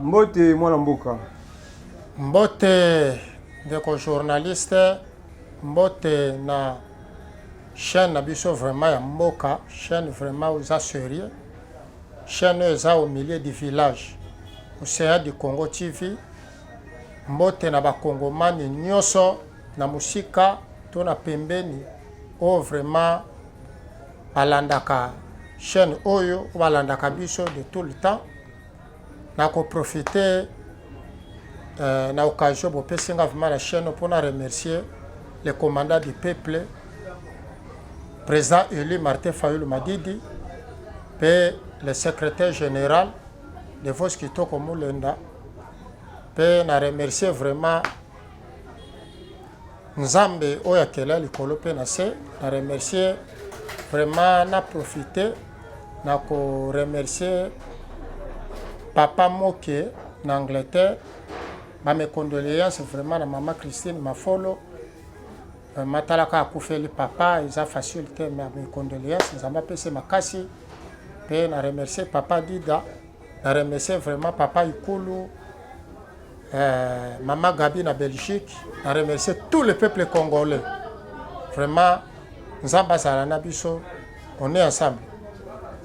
mbote mwana mboka mbote ndeko journaliste mbote na chaîne na biso vraiment ya mboka chaîne vraiment oza serieux chaîne oyo eza au milieu du village ocean du congo tv mbote na bakongomani nyonso na mosika to na pembeni oyo vraiment balandaka chaîne oyo balandaka biso de tout le temps na ko profiter euh, na occasion bopesi nga vraiment la chaîne mpo na remercier le commandant du peuple président élu Martin Fayulu Madidi mpe le secrétaire général de Vos Kitoko Mulenda mpe na remercier vraiment Nzambe oyo akela likolo mpe na se na remercier vraiment na profite na koremercier papa moke na angleterre bamecondoléance vraiment na mama christine mafolo vraiment talaka akufeli papa eza facile te me mecondoléance nzambe apesi makasi mpe na remercier papa dida na remercier vraiment papa ikulu Eh, Maman Gabi na Belgique, na remercie tout le peuple congolais. Vraiment, Nzamba azala na biso, on est ensemble.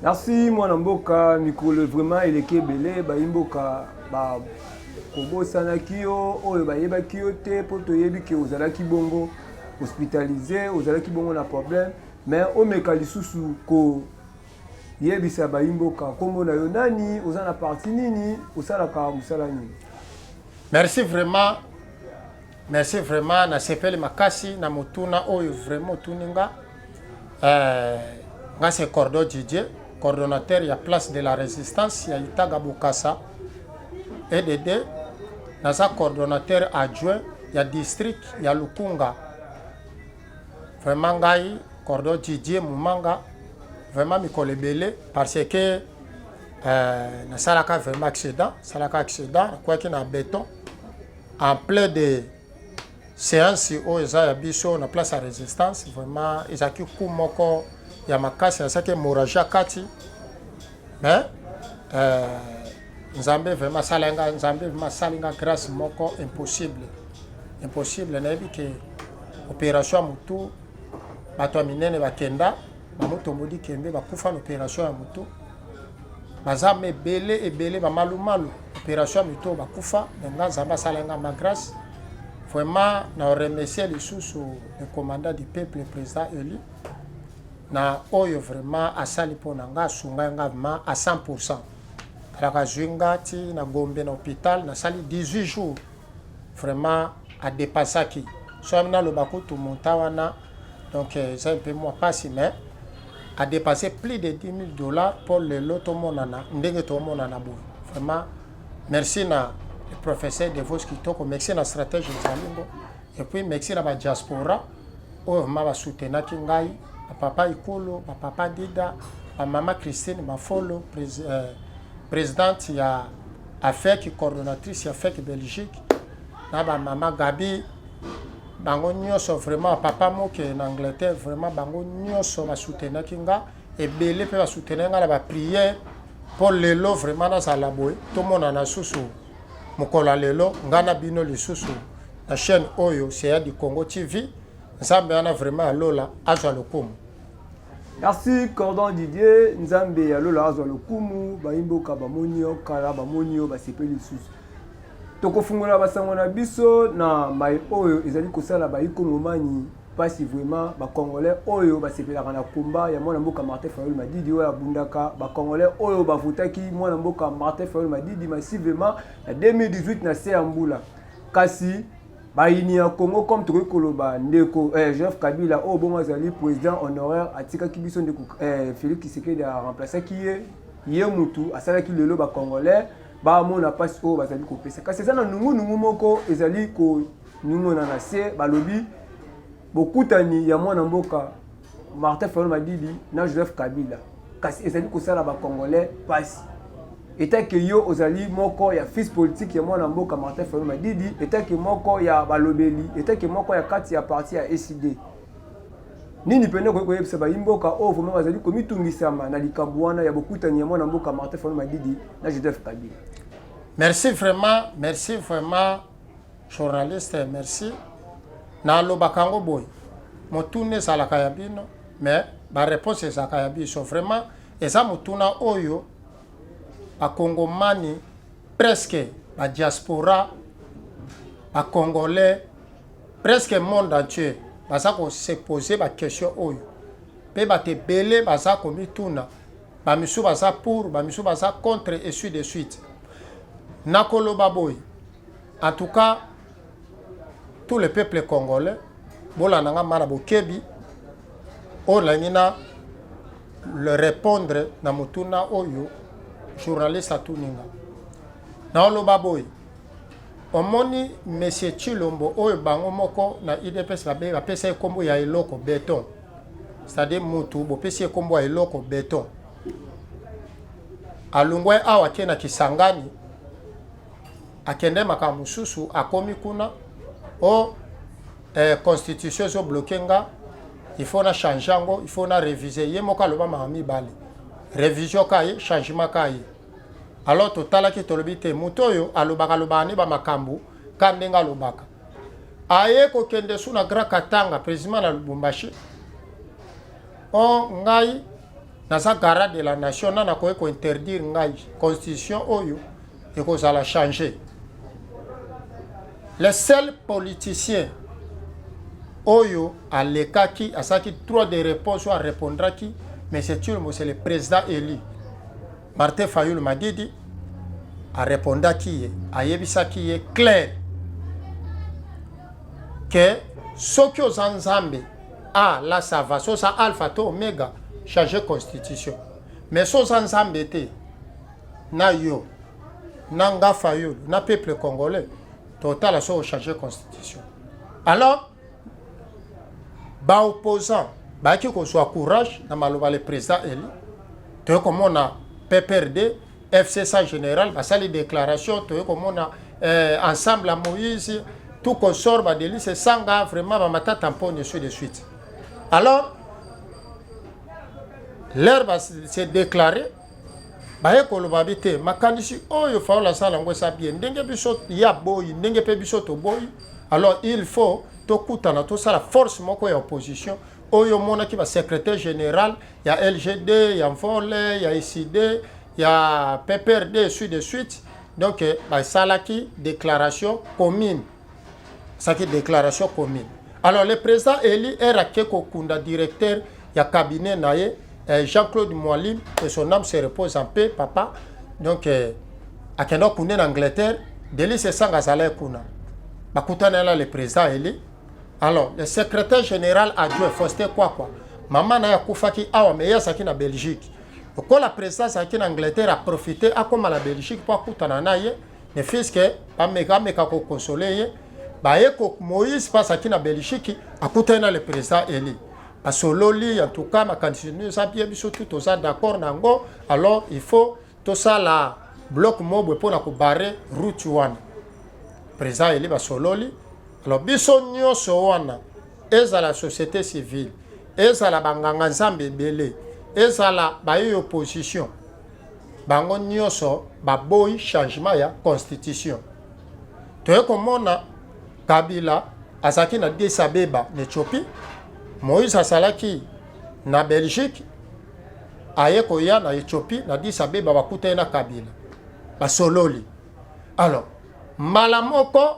Merci mwana mboka mikolo vraiment eleki ebele bayi mboka ba kobosanaki yo oyo bayebaki yo te mpo toyebi ke ozalaki bongo hospitalize ozalaki bongo na problème mais omeka lisusu ko Yebisa bayimboka nkombo na yo nani, oza na parti nini, osalaka mosala nini? Merci vraiment. Merci vraiment na sepeli makasi na motuna oyo vraiment otuni nga. Euh, nga c'est Cordo Didier, coordonnateur ya place de la résistance ya Itaga Bokassa EDD. Naza coordonnateur adjoint ya district ya Lukunga Vraiment ngai Cordon Didier Mumanga vraiment mikolo ebele parce que euh, nasalaka vraiment accident salaka accident nakwaki na beton en plein de séance oyo eza ya biso na place ya résistance vraiment ezalaki coup moko ya makasi nasalaki hémorragie kati mais euh, nzambe vraiment asala nga nzambe vraiment asali nga grâce moko impossible Impossible nayebi ke operation ya mutu bato ya minene bakenda bamotombodi kembe bakufa na operation ya mutu baza ma ebele ebele bamalumalu operation ya mito bakufa me nga nzambe asala nga ma grâce vraiment na remercie lisusu le commandant du peuple président élu na oyo vraiment asali mpo na nga asungai nga vraiment à 100 pourcent alaka azwi nga ti na gombe na hôpital nasali 18 jours Vraiment a depassaki so ami naloba kutu montant wana donc euh, eza mpe mwa mpasi mais a dépassé plus de 10 000 dollars mpo lelo tomonana ndenge tomonana boye vraiment merci na le professeur de vos kitoko merci na stratège ezalingo et puis merci na badiaspora oyo vraiment basoutenaki ngai bapapa ikolo bapapa dida bamama christine mafolo euh, présidente ya afec coordonnatrice ya fec belgique na bamama gabi bango nyonso vraiment papa moke na angleterre vraiment bango nyonso basoutenaki nga ebele mpe basoutenaki nga na bapriere mpo lelo vraiment nazala boye tomonana susu mokolo ya lelo ngai na bino lisusu na chaîne oyo seya di congo tv nzambe wana vraiment ya lola azwa lokumu Merci Cordon Didier, Nzambe ya lola azwa lokumu, bayimboka bamoni yo kala, bamoni yo basepeli lisusu. Tokofungola basango na biso na mai oyo ezali kosala baikongomani mpasi vraiment bacongolais oyo basepelaka na komba ya mwana mboka martin fayol madidi oyo abundaka bacongolais oyo bavotaki mwana mboka martin fayol madidi massivement na 2018 na se ya mbula kasi bayini ya congo comme tokoki koloba ndeko eh, joseph kabila oyo oh, bongo azali président honoraire atikaki biso ndeko eh, félix kisekedi aremplaçaki ye ye mutu asalaki lelo bacongolais bamona mpasi oyo bazali kopesa kasi eza na nungunungu moko ezali koningona na se balobi bokutani ya mwana mboka Martin Fayulu Madidi na Joseph Kabila kasi ezali kosala ba Congolais pasi etake yo ozali moko ya fils politique ya mwana mboka Martin Fayulu Madidi etake moko ya balobeli etake moko ya kati ya parti ya ECD nini pene okoki koyebisa bayi mboka oyo vraimen bazali komitungisama na likambo wana ya bokutani ya mwana mboka Martin Fayulu Madidi na Joseph Kabila merci vraiment merci vraiment Journaliste merci. Na loba kango boy. Motune ezalaka ya bino mais ba réponse ezalaka ya biso. Vraiment eza motuna oyo ba kongomani presque ba diaspora ba congolais presque monde entier baza ko se poser ba question oyo. Pe ba te belé baza ko mituna. Ba misu baza pour, ba misu baza contre et suite de suite. Na koloba boy. En tout cas, tout le peuple congolais, bolanda nga mara bokebi, oyo nalingi na le répondre na motuna oyo journaliste atuni nga. Naoloba boye, omoni monsieur Tshilombo oyo bango moko na UDPS babe bapesa ye nkombo ya eloko beton, c'est-à-dire mutu bopesi ye nkombo ya eloko beton, alongwa ye awa ake na Kisangani akende makambo mosusu akomi kuna o oh, eh, constitution ezobloke nga il faut na change yango il faut na réviser ye moko aloba mama mibale révision ka ye changement ka ye alors totalaki tolobi te moto oyo alobaka alobaka nde bamakambo ka ndenge alobaka aye kokende su na grand katanga président na lubumbashi o oh, ngai naza gara de la nation na nakoki kointerdire ngai constitution oyo ekozala change le seul politicien oyo alekaki asaki trois de réponse oyo arepondraki monsieur turmo c'est le président élu Martin Fayulu Madidi arepondaki ye, ayebisaki ye clair ke soki oza Nzambe ah là ça va so oza alpha to omega changer constitution mais so oza Nzambe te na yo na nga Fayulu na peuple congolais totala so ochange constitution alors ba opposant bayaki kozwa courage na maloba le président eli toye komona pprd fcsa général basali déclaration toye komona eh, ensemble ya moïse tout consort badelise esanga vraiment bamatata mponi suite de suite alors leur se déclarer baye koloba bi te makanisi oyo faola asala yango eza bie ndenge biso ye aboyi ndenge mpe biso toboyi alors il faut tokutana tosala force moko ya opposition oyo omonaki basecrétaire général ya lgd ya mvole ya eside ya pprd suite de suite donc eh, basalaki déclaration commune saki déclaration commune alors le président élu est raqué kokunda directeur ya cabinet na ye eh, Jean-Claude Mwalim que son âme se repose en paix papa donc eh, akenda okunda na Angleterre Delis Esanga azalaki kuna bakutana na le président élu alors le secrétaire général adjoint Faustin Kwakwa mama na ye akufaki awa mais ye azalaki na Belgique lokola président azalaki na Angleterre aprofite akóma na Belgique mpo akutana na ye ne fils que bameka ameka kokonsole ye baye moïse mpasi aki na belgique akutani na le président eli basololi en tout cas makanisi eza bie biso tu toza d'accord na yango alors il faut tosala bloc mobwe mpo na kobare route wana président eli basololi alors biso nyonso wana ezala société civile ezala banganga nzambe ebele ezala baye opposition Bango nyoso baboyi changement ya constitution. Toye komona Kabila azalaki na Addis Abeba na Ethiopie, Moïse asalaki na Belgique, aye koya na Ethiopie na Addis Abeba bakutani na Kabila basololi. Alors mbala moko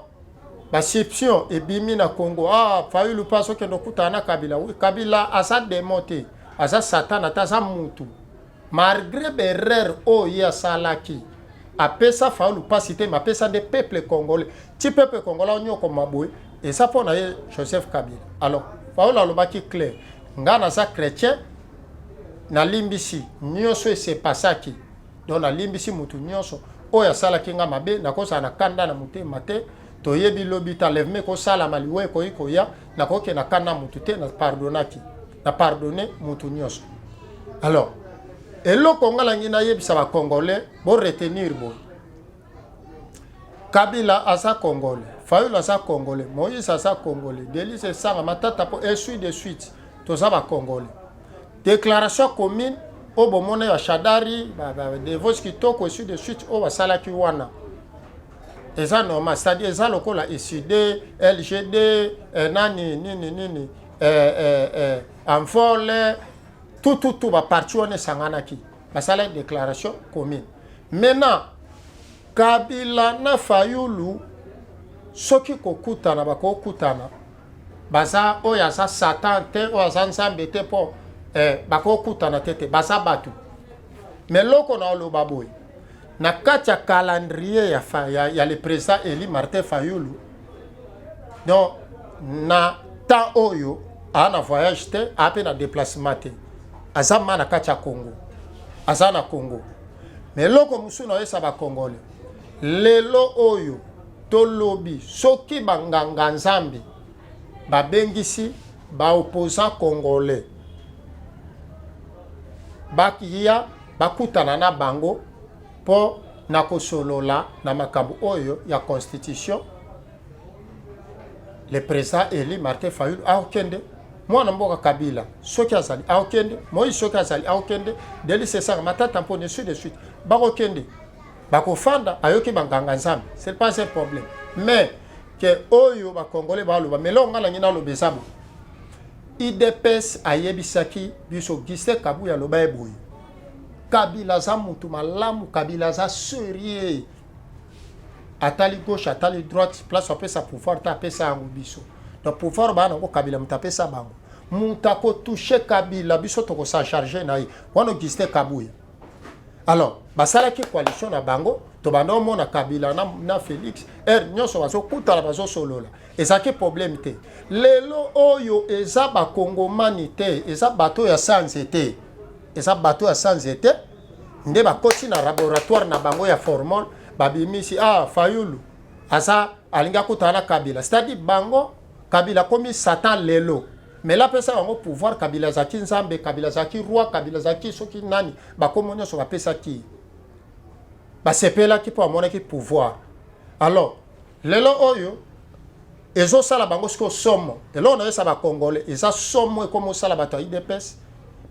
basiption ebimi na Congo, ah Fayulu mpe azokende okutana na Kabila. Oui, Kabila aza demo te, aza satana te, aza mutu Malgre ba erreur oyo ye asalaki, apesa Fayulu pasi te, mais apesa nde peuple congolais. Ti peuple congolais onyokoma boye, eza mpo na ye Joseph Kabila. Alors, Fayulu alobaki clair, ngai naza chrétien, nalimbisi nyonso esepasaki. Donc nalimbisi mutu nyonso oyo asalaki ngai mabe, nakozala na kanda na motema te. Toyebi lobi ta leveme ekosalama, liwa ekoki koya. nakoki na kana mutu te na pardonaki na pardonne mutu nyonso alors eloko nga nangi nayebisa bacongolais boretenir boye kabila aza congolais fayulu aza congolais moïse aza congolais delise esanga matata mpo esui de suite toza bacongolais déclaration commune oyo bomona ya shadari devoce kitoko esui de suite oyo basalaki wana eza normal cestadi eza lokola ecd lgd eh, nani nini nini eh, eh, eh, envole tututu baparti wana esanganaki basalaki déclaration commune maintenant kabila na fayulu soki kokutana bakokutana baza oyo aza satan te oyo aza nzambe te mpo eh, bakokutana te te baza bato me loko na oloba boye Na kati ya calendrier ya, fa, ya, ya le président Eli Martin Fayulu, donc na temps oyo a na voyage te, a pe na déplacement te, aza ma na kati ya Congo, aza na Congo. Mais eloko mosusu na yesa ba Congolais lelo oyo tolobi soki banganga nzambe babengisi baopposant congolais bakiya bakutana na bango mpo na kosolola na makambo oyo ya constitution le président eli martin fayulu aokende mwana mboka kabila soki azali aokende moïse soki azali aokende delis esaka matata mpo ne suite de suite bakokende bakofanda ayoki banganga nzambe c'est pas un problème mais ke oyo bakongole baloba melonga nangi naloba eza bo Udps ayebisaki biso Giste Kabuya aloba ye boye Kabila aza mutu malamu, Kabila aza serieux, atali gauche atali droite, place apesa pouvoir te apesa yango biso. Donc pouvoir baa nango Kabila moto apesa bango, moto akotouche Kabila biso tokosacharge na ye wana Augustin Kabuya alors basalaki coalition na bango tobanda omona kabila na, na félix heure nyonso bazokutana bazosolola ezalaki problème te lelo oyo eza bakongomani te eza bato ya sanze te eza bato ya sanze te nde bakoti na laboratoire na bango ya formol babimisi ah fayulu aza alingi akutana na kabila c'est-à-dire bango kabila akomi satan lelo Mela apesa bango pouvoir, Kabila azalaki nzambe, Kabila azalaki roi, Kabila azalaki soki nani, bakombo nyonso bapesaki ye. Basepelaki mpo amonaki pouvoir. Alors, lelo oyo ezosala bango sikoyo somo. Eloko nayesa bakongole eza somo ekomi osala bato ya UDPS,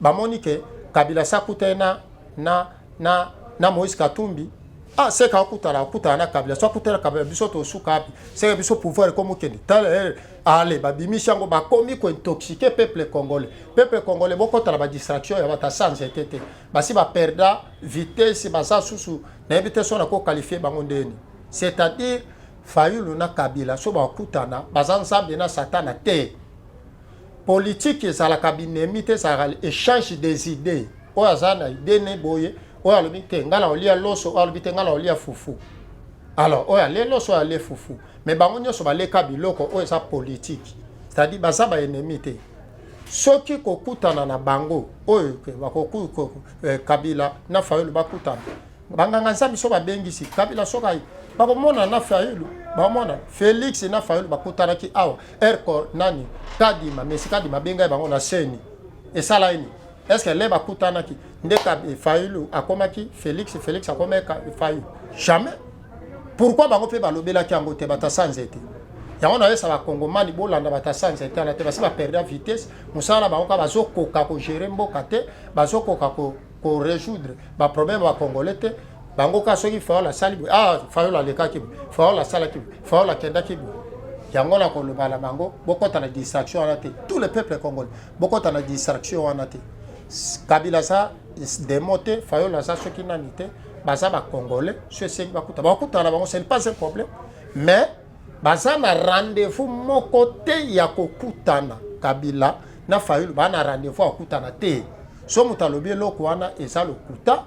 bamoni ke Kabila sakuta ye na, na na na Moïse Katumbi ah seka akutana akutana na kabila so akutana kabila biso tosuka wapi seka biso pouvoir ekomokende tala eh, ale babimisi yango bakomi kointoxike peuple congolais peuple congolais bokota na badistraction ya bata sans ete te basi baperda vitesse baza susu nayebi te so nakokalifie bango ndeni c'est-à-dire fayulu na kabila so bakutana baza nzambe na satana te politiki ezalaka binemi te ezalaka echange des idées oyo aza na idée ne boye oyo alobi te ngai naolia loso oyo alobi te ngai naolia fufu alors oyo alie loso oyo alie fufu mais bango nyonso baleka biloko oyo eza politiki c'est-à-dire baza baennemi te soki kokutana na bango oyo eh, kabila na fayulu bakutana banganga nzambe so babengisi kabila sokai bakomona na fayulu bamona félix na fayulu bakutanaki awa erco nani kadima mesi kadima abengai bango na seni esala ini est ce que le bakutanaki nde eh, fayulu akomaki félix félix akomaki fayulu jamais pourkui bango mpe balobelaki yango te batasa nzete yango nayesa bakongomani bolanda batasa nzete wana te basi baperda vitesse mosala na bango kaka bazokoka kogere mboka te bazokoka ko ko résoudre ba problème ba congolais te bango ka soki fayol asali boye ah fayol alekaki boye fayol asalaki boye fayol akendaki boye yango na koloba na bango bokota na distraction wana te tout le peuple congolais bokota na distraction wana te kabila aza demo te fayol aza soki nani te baza bacongolais so esengi bakuta bakutana na bango ce n'est pas un problème mais baza na rendez-vous moko te ya kokutana kabila na fayulu baa na rendez-vous ya kokutana te so moto alobi eloko wana eza lokuta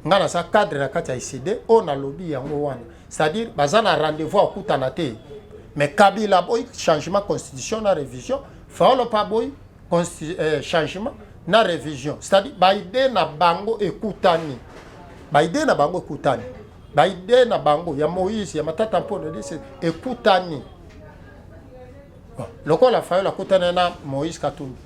ngai naza cadre na kati ya icd oyo nalobi yango wana c'est-à-dire baza na rendez-vous ya kokutana te mais kabila aboyi changement constitution na révision fayolo mpe aboyi eh, changement na révision c'est-à-dire baide na bango ekutani baide na bango ekutani ba idee na bango ya moïse ya matata mpona dese ekutani bon, lokola fayola akutani na moïse katumbi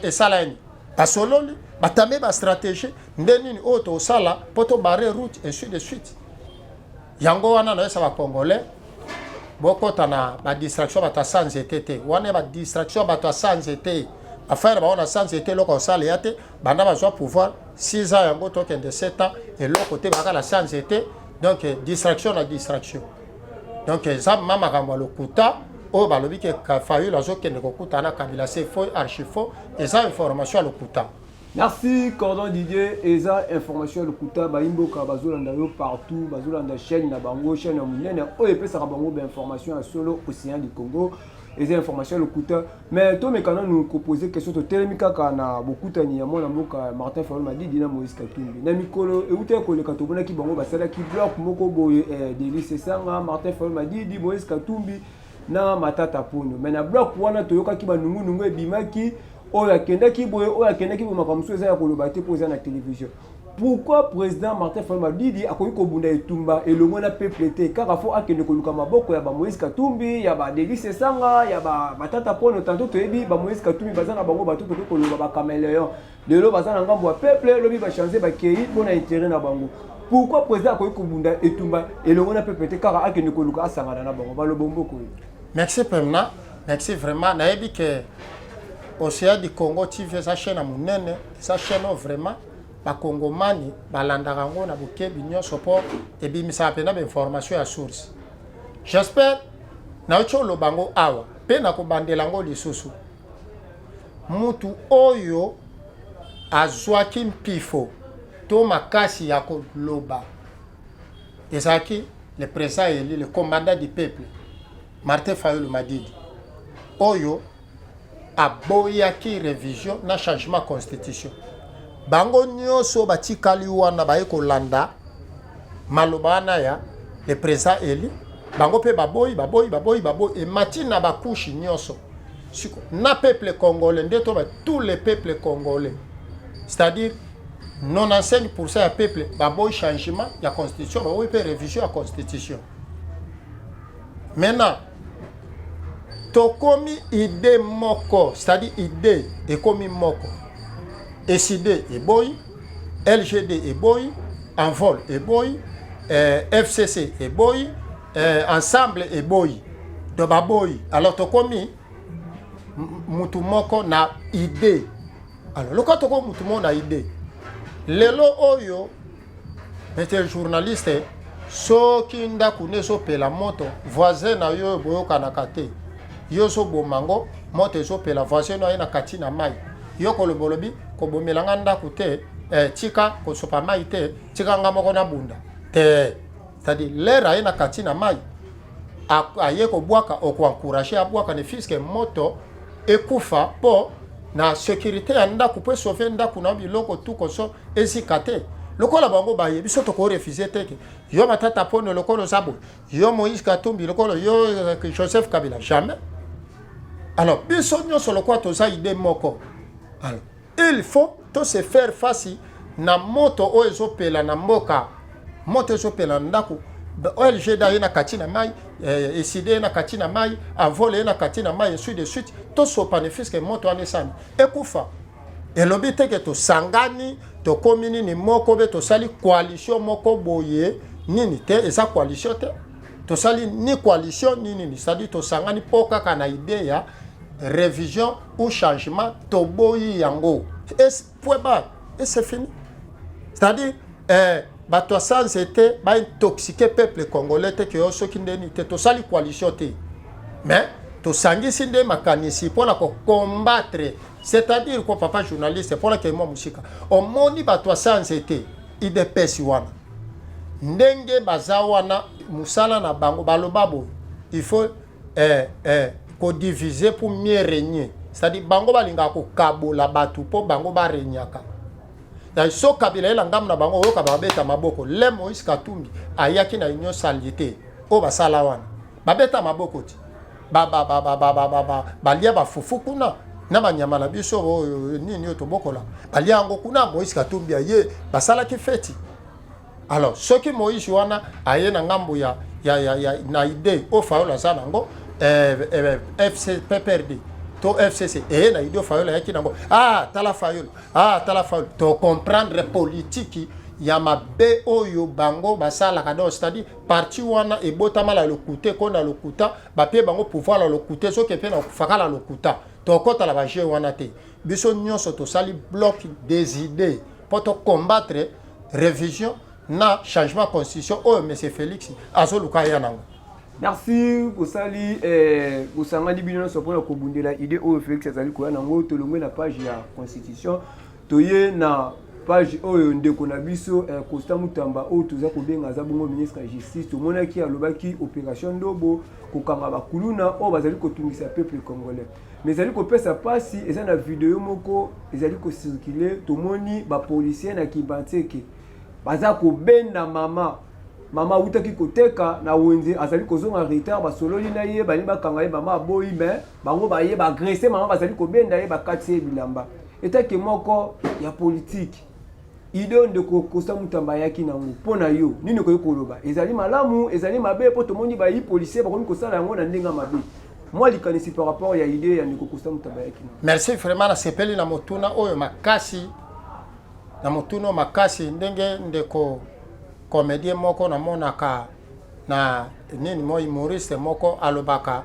esala nini basololi batambi bastratégie nde nini oyo tosala mpo tobare route ainsi de suite yango wana nayesa bacongolais bokota na badistraction bato ya sa nzete te wana ya badistraction bato ya sa nzete affaire baona sa nzete eloko osala ya te banda bazwa pouvoir 6 ans yango tokende 7 ans eloko te bakala sanze te donc distraction na distraction donc eza ma makambo ya lokuta oyo balobi ke fayul azokende kokuta na kabila se faux archi faux eza information ya lokuta merci cordon didier eza information ya lokuta bayimboka bazolanda yo partout bazolanda chaîne na bango chaîne ya monene oyo epesaka bango bainformation ya solo océan du congo eza information ya lokuta mais tomeka nanu kopose question totelemi kaka na bokutani ya mwana mboka martin fayol madidi na moïse katumbi na mikolo eutaki koleka tomonaki bango basalaki bloc moko boye eh, delis esanga martin fayol madidi moïse katumbi na matata ponyo mais na bloc wana toyokaki banungunungu ebimaki oyo akendaki boye oyo akendaki boye makambo mosusu eza ya koloba te mpo eza na télévision pourquoi président martin fayulu madidi akoki kobunda etumba elongo na peuple te kaka fo akende koluka maboko ya bamoïse katumbi ya badelis esanga ya batata pono tanto toyebi bamoïse katumbi baza na bango bato tokoki koloba bacameleon lelo baza na ngambo ya peuple lobi bachange bakei mpo na intere na bango pourquoi président akoki kobunda etumba elongo na peuple te kaka akende koluka asangana na bango baloba mboko oyo merci pemna merci vraiment nayebi ke ocean du congo tv eza chaine ya monene sa chaîne oyo vraiment bakongomani balandaka yango na bokebi nyonso mpo ebimisaka mpenza bainformation ya source j'espère nayoki oloba yango awa mpe nakobandela yango lisusu mutu oyo azwaki mpifo to makasi ya koloba ezalaki le président eli le commandant du peuple martin fayulu madidi oyo aboyaki revision na changement ya constitution bango nyonso batikali wana baye kolanda maloba wana ya le président élu bango mpe baboyi baboyi baboyi baboyi emati na bakushi nyonso siko na peuple congolais nde to ba tous les peuples congolais c'est-à-dire 95 pourcent ya peuple baboyi changement ya constitution baboyi mpe révision ya constitution maintenant tokomi idee moko c'est-à-dire idee ekomi moko esid eboyi lgd eboyi envol eboyi eh, fcc eboyi eh, ensemble eboyi to baboyi alors tokomi mutu moko na idee alors lokola tokomi mutu moko na idee lelo oyo Monsieur journaliste, soki ndako ne ezopela moto, voisin na yo boyokanaka te. Yo ozoboma yango, moto ezopela, voisin na ye na kati na mai. Yo koloba olobi kobomela nga ndako te, eh, tika kosopa mai te, tika nga moko nabunda te. c'est-à-dire l'air aye na kati na mai aye kobwaka okoencourage abwaka ne fiske moto ekufa mpo na sécurité ya ndako mpo esauve ndako na biloko tu koso ezika te lokola bango baye biso tokorefuse te ke yo matata pono lokola oza boye yo moïse katumbi lokola yo euh, joseph kabila jamais alors biso nyonso lokola toza ide moko alors Il faut to se faire face na moto oyo ezopela na mboka, moto ezopela na ndako OLG da ye na kati na mai eh, eside ye na kati na mai avole ye na kati na mai ensuite de suite tosopani fiske moto wana esani ekufa elobi te ke tosangani tokomi nini moko be tosali coalition moko boye nini te eza coalition te tosali ni coalition ni nini c'est-à-dire tosangani mpo kaka na idee ya revision ou changement toboyi yango point ba et c'est fini c'est-à-dire eh, bato ya sans ete baintoxike peuple congolais te ke yo soki ndeni te tosali coalition te mais tosangisi nde makanisi mpo na kokombatre c'est-à-dire ko papa journaliste mpo na kei mwa mosika omoni bato ya sans ete idps wana ndenge baza wana mosala na bango baloba boye il faut eh, eh, kodivise pour mieux régner cetadi bango balingaka kokabola bato mpo bango baregnaka na so kabila ye na ngambo na bango oyoka babeta maboko le moïse katumbi ayaki na union saliete oyo basala wana babeta maboko ti balia bafufu kuna na banyama na biso oyo nini oyo tobokola balia yango kuna moïse katumbi aye basalaki feti alors soki moise wana aye na ngambo ya, ya, ya, ya, na idee oyo fayola aza nango eh, eh, eh fc pprd to fcc eye na idee oyo fayola ayaki nango ah tala fayola ah tala fayola tocomprendre politiki ya mabe oyo bango basalaka donc c'est-à-dire parti wana ebotama na lokuta ekoi na lokuta bapie bango pouvoir na lokuta soki mpe na kufaka na lokuta tokota na bajeu wana te biso nyonso tosali bloc des idées mpo tocombattre revision na changement ya constitution oyo monsieur félix azoluka aya nango merci bosali eh, bosangani bino nyonso mpona kobundela idée oyo félix azali koya nango tolongwe na page ya constitution toye na page oyo ndeko na biso eh, costa mutamba oyo toza kobenga aza bongo ministre ya justice tomonaki alobaki opération ndobo kokanga bakuluna oyo bazali kotungisa peuple congolais me ezali kopesa mpasi eza na video moko ezali kosirkule tomoni bapolisien na kibantseke baza kobenda mama mama awutaki koteka na wenze azali kozonga retard basololi na ye balingi bakanga ye mama aboyi me bango baye baagrese mama bazali kobenda ye bakati ye bilamba etake moko ya politike idee oyo ndeko kosa mutamba ayaki nango mpo na yo nini okoki koloba ezali malamu ezali mabe mpo tomoni bayi policier bakomi kosala yango na ndenge ya mabe mwa likanisi par rapport ya idee ya ndeko kosa mutamba ayaki nango merci vraiment nasepeli na motuna oyo makasi na motuna oyo makasi ndenge ndeko komedie moko namonaka na nini mo humoriste moko alobaka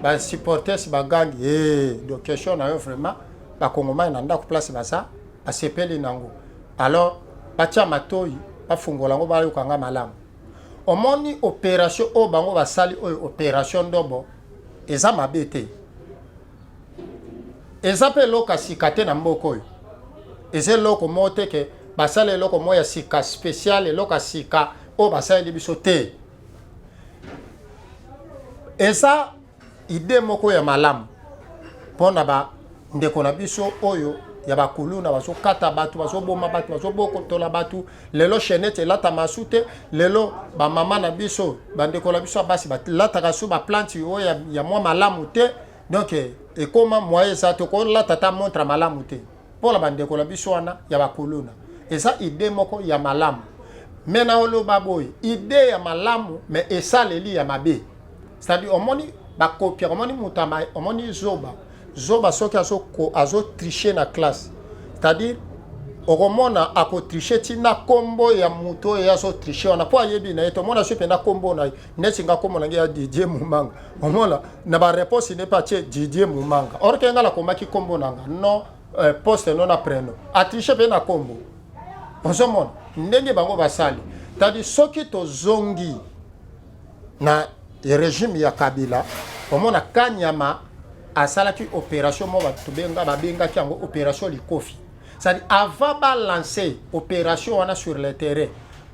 basupporters bagangi hey, eh, do question na yo vraiment bakongomani na ndako place baza asepeli nango alors batia matoyi bafungola yango bayoka nga malamu omoni operation oyo bango basali oyo operation ndobo eza mabe te eza mpe eloko ya sika te na mboka oyo eza eloko moko te ke basala eloko moko ya sika spécial eloko ya sika oyo basaleli biso te eza Idee moko ya malamu mpo na ba ndeko na biso oyo ya bakuluna bazokata bato bazoboma bato bazobokotola bato lelo chenete elatama su te lelo bamama na biso bandeko na biso ya basi balataka su baplante oyo ya, ya mwa malamu te donc ekoma moye eza te okolata ata montre malamu te pona ba ndeko na biso wana ya ba kuluna eza idee moko ya malamu me na oloba boye idee ya malamu me esaleli ya mabe cetadi omoni bakopia omoni moto omoni zoba zoba soki azotriche azo na classe cetadire okomona akotriche ti na nkombo ya moto oyo azotriche wana mpo ayebi na ye tomona soki mpenza nkombo na ye neti nga nkombo na nge ya didie momanga omona na ba réponse ne pas tie Didier Mumanga or ke nga la komaki kombo nanga non euh, poste non na prénom atriche pe na kombo ozomona ndenge bango basali tadi soki tozongi na régime ya Kabila omona Kanyama asalaki opération mo bato benga babengaki yango opération likofi c'est-à-dire avant balancer opération wana sur le terrain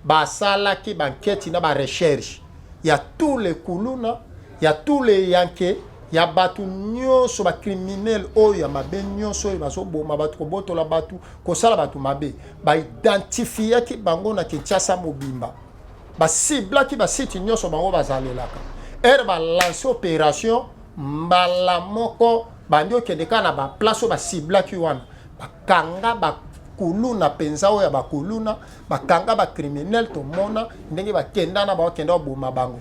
basalaki banketi na barecherche ya tous les kuluna ya tous les yanke ya bato nyonso bacriminele oyo ya mabe nyonso oyo bazoboma bato kobotola bato kosala bato mabe baidentifiaki bango na kinshasa mobimba basiblaki basite nyonso bango bazalelaka ere balance opération mbala moko bandi okende kaka na baplace oyo basiblaki wana bakanga bakuluna mpenza oyo ya bakuluna bakanga ba criminel tomona ndenge bakenda na bango kenda oboma bango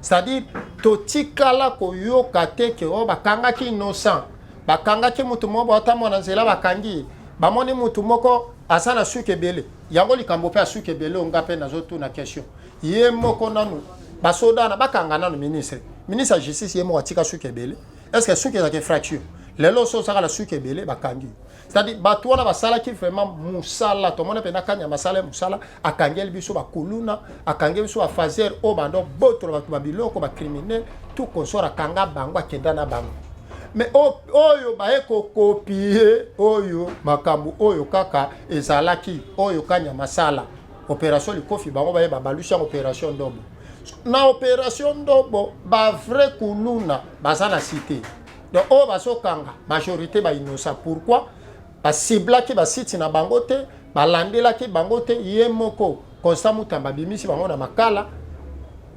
c'est-à-dire totikala koyoka te ke oyo oh, bakangaki innocent bakangaki motu moko baotambo na nzela bakangi bamoni motu moko aza na suki ebele yango likambo mpe asuki ebele oyo nga mpe nazotuna question ye moko nanu basoda wana bakanga nanu ministre ministre ya justice ye moko atika suki ebele est ce que suki ezalaka infraction lelo oso ozaka na suki ebele bakangi c'est-à-dire bato wana basalaki vraiment mosala tomoni mpe na kanya masala ya mosala akangeli biso bakuluna akangeli biso bafaser oyo banda obotola bato babiloko bacriminel tout consort akanga bango akenda na bango me oyo baye kokopie oyo makambo oyo kaka ezalaki oyo kanya masala opération likofi bango baye babalusi yango opération ndobo na opération ndobo bavrai kuluna baza na site donc oyo bazokanga majorité bainosa pourquoi basiblaki basiti na bango te balandelaki bango te ye moko constant mutamba abimisi bango na makala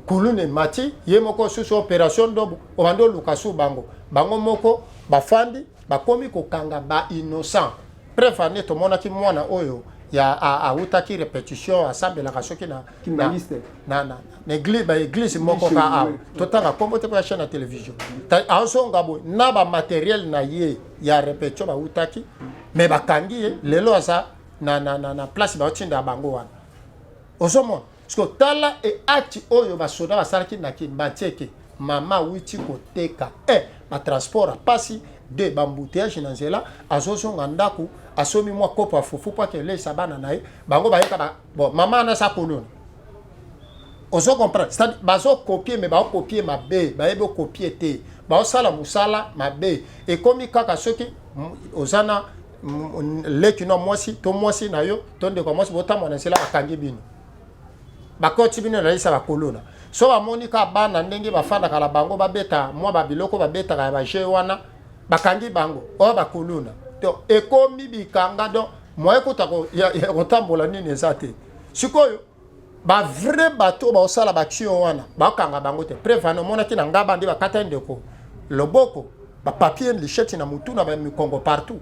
kuluna emati ye moko susu opération ndobo obandi oluka su bango bango moko bafandi bakomi kokanga ba innocent preuve ane tomonaki mwana oyo ya awutaki repetition asambelaka soki na kimbanguiste na na na eglise ba eglise moko ka awa totanga kombo te ya chaîne ya télévision azonga boye na ba matériel na ye ya repetio bautaki mais bakangi ye lelo aza na na na, na place baotinda bango wana ozomona siko tala eati oyo basoda basalaki na kimbatieke mama awiti koteka e eh, batransport ya mpasi de bambuteyage na nzela azozonga ndako asomi mwa kopo ya fufu mpo akeleisa bana na ye bango bayeka Bon, maman na sa kolona. Ozo comprendre? Ça bazo copier mais bazo copier mabe, baye bo copier te. Bazo sala musala mabe. Et comme kaka soki ozana leki no mwasi to mwasi na yo to ndeko mwasi botama na sela bakangi bino. Bakoti bino na lisa bakolona. So bamoni ka bana ndenge bafandaka na bango babeta mwa babiloko babetaka ya baje wana bakangi bango oyo bakolona. Donc ekomi bikanga donc moyen kota ya kotambola nini eza te sikoyo bavrai bato baosala baction wana bakanga bango te prevana omonaki na ngaba nde bakata ndeko loboko bapapier lisheti na motu na bamikongo partout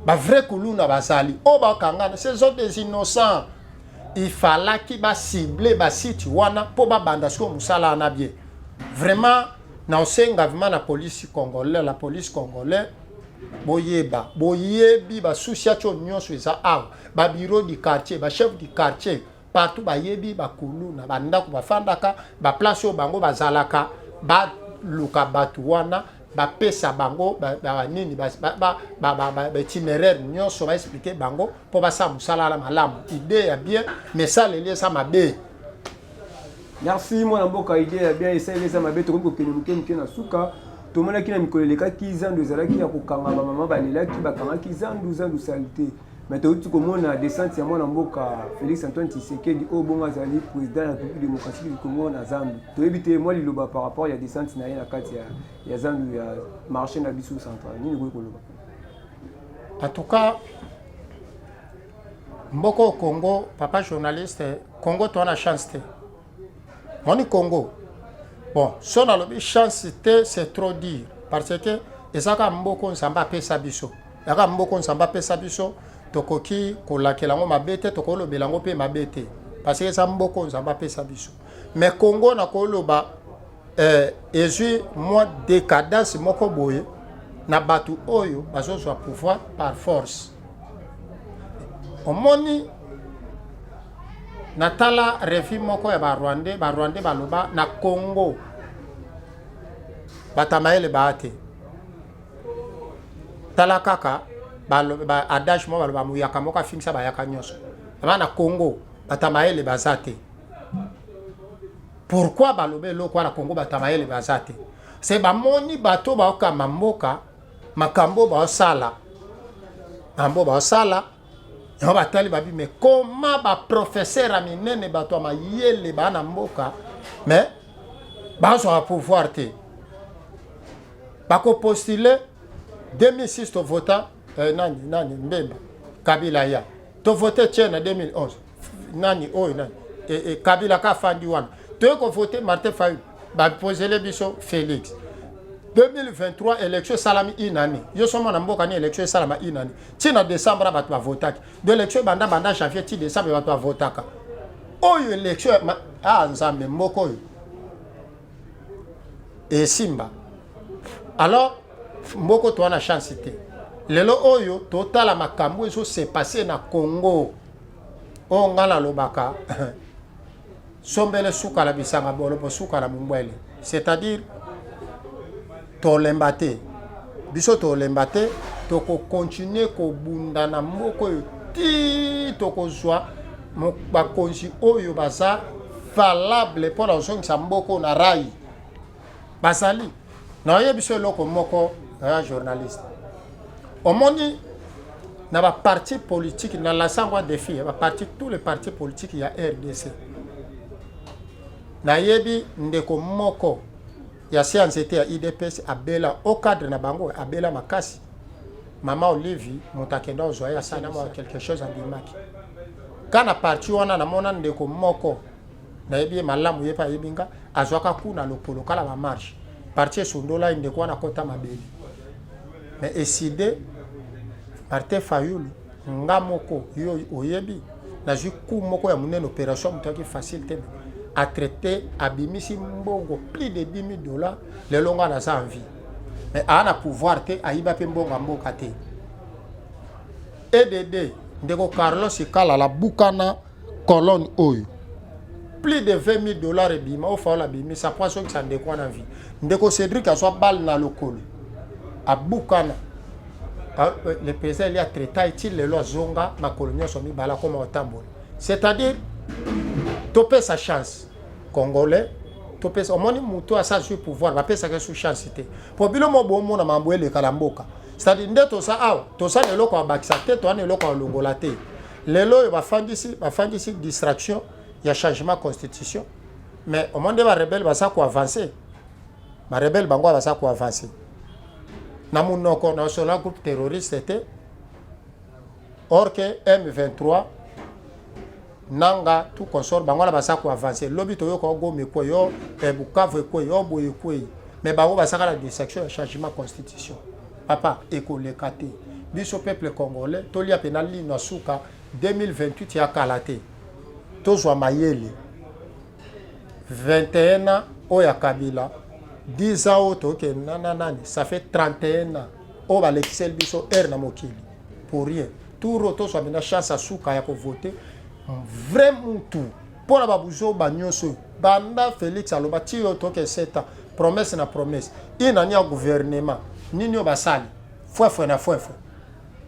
bavrai kuluna bazali oyo bakangana ce sont des innocents ifalaki basible basite wana mpo babanda sikoyo mosala wana bie vraiment naosenga vrima na polisi congolais la polisi congolais boyeba boyebi ba association nyonso eza awa ba bureau du quartier ba chef du quartier partout bayebi bakuluna bandako bafandaka baplace oyo bango bazalaka baluka bato wana bapesa bango nini baitinéraire nyonso baexplike bango mpo basala mosala na malamu idee ya bien mesaleli eza mabe Merci mwana mboka idee ya bien esaleli eza mabe tokomi kokende moke moke na suka tomonaki na mikolo elekaki zandu ezalaki ya kokanga bamama balelaki bakangaki zandu zandu salite mais touti komona descente ya mwana mboka félix antoine tshisekedi oyo bongo azali président ya république démocratique du congo na zandu toyebi te mwa liloba par rapport ya descente na ye na kati ya, ya zandu ya marché na biso central nini ekoki koloba en tout cas Mboko Congo, papa journaliste, Congo to na chance te. Moni Congo. Bon, so na lobi chance te, c'est trop dire parce que ezaka mboko nzamba pesa biso. Yaka mboko nzamba pesa biso, tokoki kolakela ngo mabete, tokolobela ngo pe mabete. Parce que eza mboko nzamba pesa biso. Mais Congo na koloba eh, ezwi mwa decadence moko boye na bato oyo bazozwa pouvoir par force omoni natala refi moko ya barwandais barwandais baloba na congo batamayele baa te tala kaka adage moko baloba moyaka moko afingisa bayaka nyonso aba na congo batamayele baza te pourkui baloba eloko wana congo batamayele baza te se bamoni bato baokamba mboka makambo oyo baosala makambo oyo baosala yango batali babi me koma baprofesere ya minene bato ya mayele baa na mboka me bazwaka pouvoir te bakopostule 2006 tovota eh, nani nani mbemba kabila ya tovote tie na 2011 nani oyo nani e, e, kabila ka fandi wana toye kovote martin fayulu bapozele biso félix 2023 élection esalami une année yo so mwana mboka ni élection esalama une année ti na décembre bato bavotaki do élection ebanda banda janvier ti décembre bato bavotaka oyo élection ah nzambe mboka oyo esimba alors mboka to wana chance te lelo oyo totala makambo ezo se passer na congo oyo ngai nalobaka sombele suka na bisanga bolopo suka na mungwele c'est-à-dire tolemba te biso tolemba te tokokontinue kobunda na mboka oyo ti tokozwa bakonzi oyo baza valable mpo na kozongisa mboka oyo na rai bazali na oyebi biso eloko moko ya journaliste omoni na baparti politike na lasangwa defi ya baparti tous les partis politiques ya rdc nayebi ndeko moko ya se ya nzete ya idps abela au cadre na bango abela makasi mama olivi moto akenda ozwa ye asala mwa quelque chose andimaki ka na parti wana namona ndeko moko nayebi ye malamu ye mpe ayebi nga azwaka ku na lokolo kala ba marche parti esundola ye ndeko wana kota mabele me eside martin fayulu nga moko yo oyebi nazwi ku moko ya monene opération moto yaki facile te atraite abimisi mbongo plus de 10 000 dollars lelo nga naza en vie mais aa na pouvoir te ayiba mpe mbongo ya mboka te edd ndeko carlos ekalala bukana colonne oyo plus de 20 000 dollars ebima oyo faola abimisa mpo asokisa ndeko wana vie ndeko cédric azwa bale na lokolo abukana ah, euh, le président elia traita eti lelo azonga makolo nyonso mibale akoma kotambola c'est-à-dire topesa chance congolais topesa omoni motu asa azwi pouvoir bapesaka esu chance te mpo bino mo bomona mambo elekala mboka c'est-à-dire nde toza awa toza na eloko ya bakisa te toza na eloko ya longola te lelo oyo bafandisi bafandisi distraction ya changement constitution mais omoni nde barebele baza koavanse barebele bango baza koavanse na monoko national groupe terroriste te or ke m23 nanga tout consort bango wana baza koavanse lobi toyoka ogomi ekwei o eh, bukavu ekwei o boye ekwei mais bango bazaka na distraction ya changement constitution Papa ekoleka te. Biso peuple congolais tolia pena lino ya suka 2028 ya kala te. Tozwa mayele 21 ans oyo ya Kabila 10 ans oyo tokende na na nani ça fait 31 ans oyo balekiseli biso heure na mokili pour rien tour oyo tozwa pena chance ya suka ya kovote vrai mutu mpo na babuzoba nyonso oyo banda felix aloba ti yo toke 7 ans promesse na promesse inani ya gouvernement nini oyo basali fwefwe na fwefwe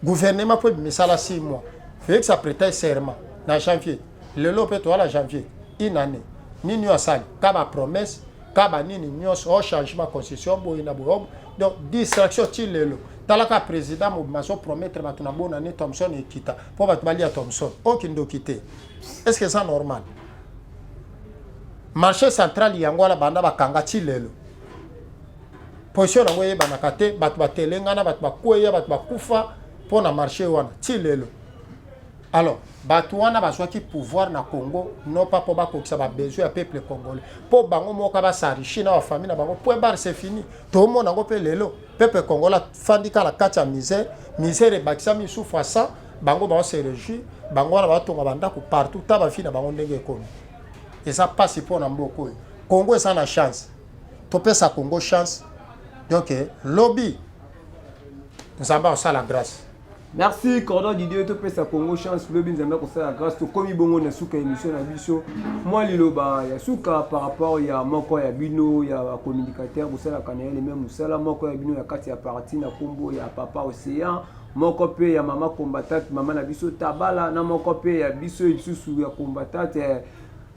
gouvernement mpo ebimisala 6 mois felix apreta serment na janvier lelo mpe toala janvier inani nini oyo asali ka bapromesse ka banini nyonso o oh, changement constitution boye na boye donc distraction ti lelo talaka président mobima azopromettre bato na bona ni thomson ekita mpo bato balia thomson okindoki te est ce que eza normal marché central yango wana banda bakanga ti lelo position yango eyebanaka te bato batelengana bato bakweya bato bakufa mpo na marché wana ti lelo alors bato wana bazwaki pouvoir na congo non pas mpo bakokisa babesoin ya peuple congolais mpo bango moka basarichi na bafamille na bango point barre c'est fini tomona yango mpe lelo Peuple congolais afandi kaka na kati ya misère, misère ebakisami lisusu fois 100, bango bao se réjouir, bango wana batonga bandako partout, ta bafii na bango ndenge ekomi. Eza mpasi mpo na mboka oyo. Congo eza na chance, topesa Congo chance. Donc lobi Nzambe akosala grâce. Merci Cordon Didier to pesa Congo chance lobi nzambe ko sala grâce to komi bongo na suka émission na biso moi liloba ya suka par rapport ya moko ya bino ya communicateur bo sala kana le même musala moko ya bino ya kati ya parti na kombo ya papa océan moko pe ya mama combattante mama na biso tabala na moko pe ya biso lisusu ya combattante eh,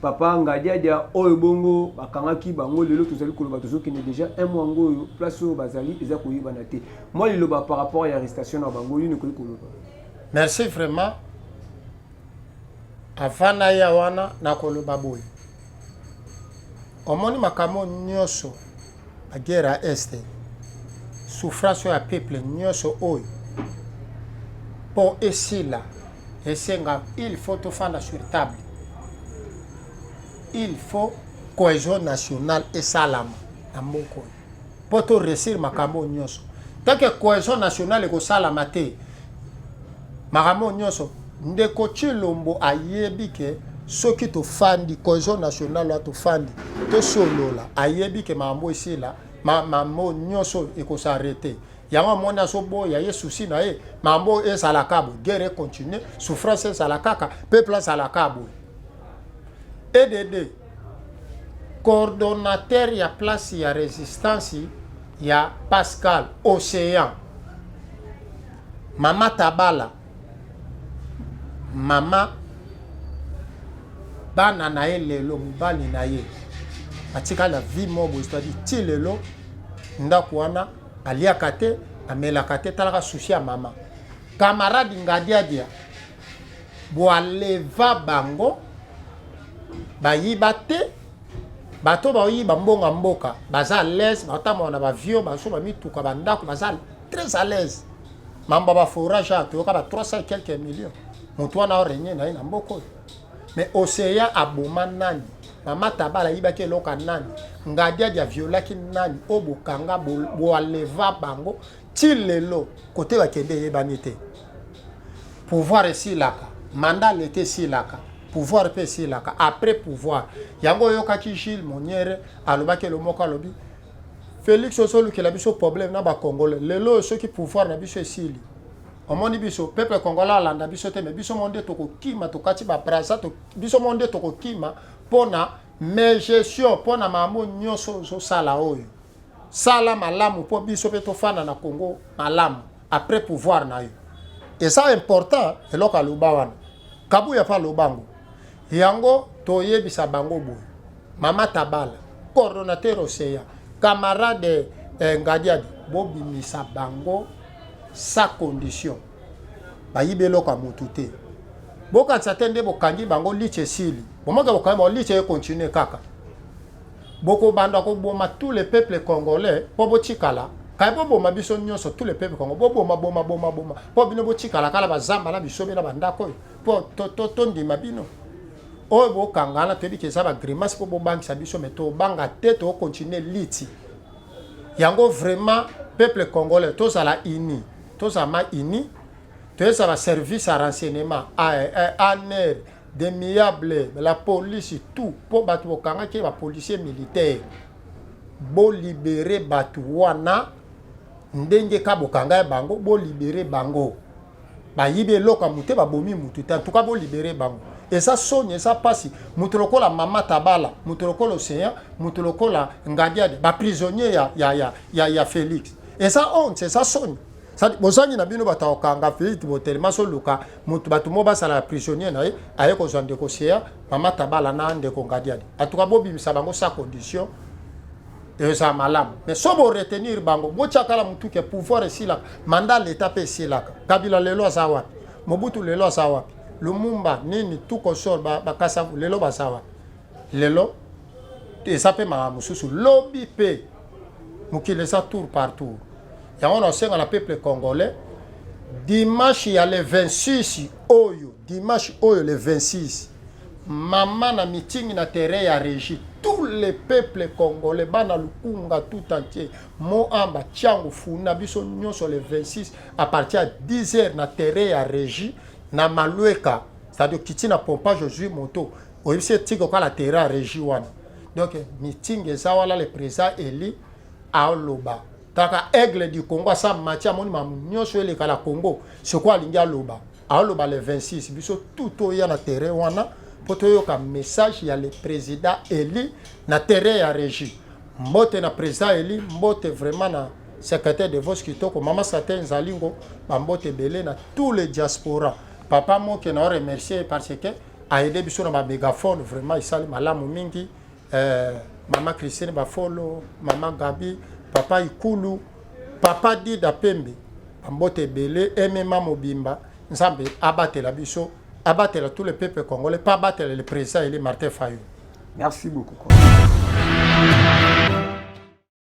papa ngadiadia oyo bongo bakangaki bango lelo tozali koloba tozokende déjà un mois yango oyo place oyo bazali eza koyebana te mwa liloba par rapport ya arrestation na bango nini okoki koloba merci vraiment avant naya wana nakoloba boye omoni makambo nyonso ba guerre ya est souffrance oyo ya peuple nyonso oyo mpo esila esenga il faut tofanda sur table il faut cohesion nationale esalama na mboka oyo mpo toresir makambo oyo nyonso tanke cohesion nationale ekosalama te makambo nyonso ndeko chilombo ayebi ke soki tofandi cohesion nationale wa tofandi tosolola ayebi ke makambo esila makambo nyonso ekosarete yango amoni azoboya ye susi na ye makambo oyo ezalaka boye guerre econtinue souffrance ezala kaka peuple azalaka boye edd coordonnateur ya place ya resistance ya Pascal Ocean, Mama Tabala, mama bana na ye lelo, mobali na ye atikali na vie moko boye, c'est-à-dire ti lelo ndako wana aliaka te, amelaka te, talaka susi ya mama. Camarade Ngadiadia boaleva bango bayiba te bato baoyiba mbongo ya mboka baza alaise batambola na bavio baso bamituka bandako baza très alaise mambo ya baforage awa toyoka ba 300 quelques millions moto wana orenie na ye na mboka oyo mais océan aboma nani mama tabala ayibaki eloko ya nani ngadiadi aviolaki nani oyo bokanga boaleva bango ti lelo kote bakende eyebani te pouvoir esilaka manda leta esilaka pouvoir mpe esilaka après pouvoir yango oyokaki gile moniere alobaki elo moko alobi félix ozolukela biso problème na bacongolais lelo oyo soki pouvoir na biso esili omoni biso peuple congolais alanda biso te me biso mo nde tokokima tokati babrasa to, biso mo nde tokokima mpo na megestion mpo na makambo nyonso ozosala oyo Sala malamu mpo biso mpe tofanda na Congo malamu après pouvoir na yo. Eza important eloko aloba wana. Kabuya mpe aloba yango. Yango toyebisa bango boye. Mama Tabala, coordonnateur Ocean, camarade eh, Ngadiadi, bobimisa bango sa condition. Bayibi eloko ya motu te. Bokanisa te nde bokangi bango liche esili. Bomoke bokangi bango liche ekontinue kaka. Boko banda ko boma tout le peuple congolais po bo tikala kaya bo boma biso nyoso tout le peuple congolais bo boma boma boma boma po bino bo tikala kala ba zamba na bisobe na ba ndako oyo po to to to ndima bino oyo bo kangana to biki zaba grimace po bo bangisa biso mais to banga te to continuer liti yango vraiment peuple congolais to zala ini to zama ini to ezala service à renseignement à à, à, à, à, à, à, à, à, à de miable la police tout mpo bato bokangaki ba policier militaire bolibere bato wana ndenge ka bokanga ya bango bolibere bango bayibi eloko ya mote babomi motu te antuka bolibere bango eza soni eza mpasi moto lokola mama tabala moto lokola océan moto lokola ngadiade baprisonnier ya, ya, ya, ya, ya félix eza honte eza soni sadi bozangi na bino bato ya kokanga feite botelema soluka moto bato moko basala ya prisonnier na ye aye kozwa ndeko sea mama tabala na ndeko ngadiadi atuka bobimisa bango sa condition eza malamu mais so boretenir bango botyakala motu ke pouvoir esilaka manda leta mpe esilaka kabila lelo aza wapi mobutu lelo aza wapi lumumba nini tukosor bakasavu lelo baza wapi lelo eza mpe makambo mosusu lobi mpe mokili eza tour par tour yango nasenga na peuple congolais dimanche ya le 26 oyo dimanche oyo le 26 mama na mitingi na terrain ya régie tous les peuples congolais bana lukunga tout entier moamba tiango funa biso nyonso le 26 à partir ya 10 heures na terrain ya régie na malweka c'est-à-dire kiti na pompage ozwi moto oyebisi ye tiko kala terrain ya regi wana donc meeting eza wana le président eli aloba kaka aigle du congo asa mati amoni mamu nyonso eleka na congo soko alingi aloba aoloba le 26 biso tout toya na terrain wana mpo toyoka message ya le président eli na terrain ya regi mbote na président eli mbote vraiment na secrétaire de vos kitoko mama sate nzalingo bambote ebele na tout le diaspora papa moke na yo remercier parce que ayede biso na ba megaphone vraiment esali malamu mingi eh, mama christine bafolo mama gabi papa ikulu papa dida pembe bambote ebele emema mobimba nzambe abatela biso abatela tout le peuple congolais pa abatela le président eli martin fayulu merci beaucoup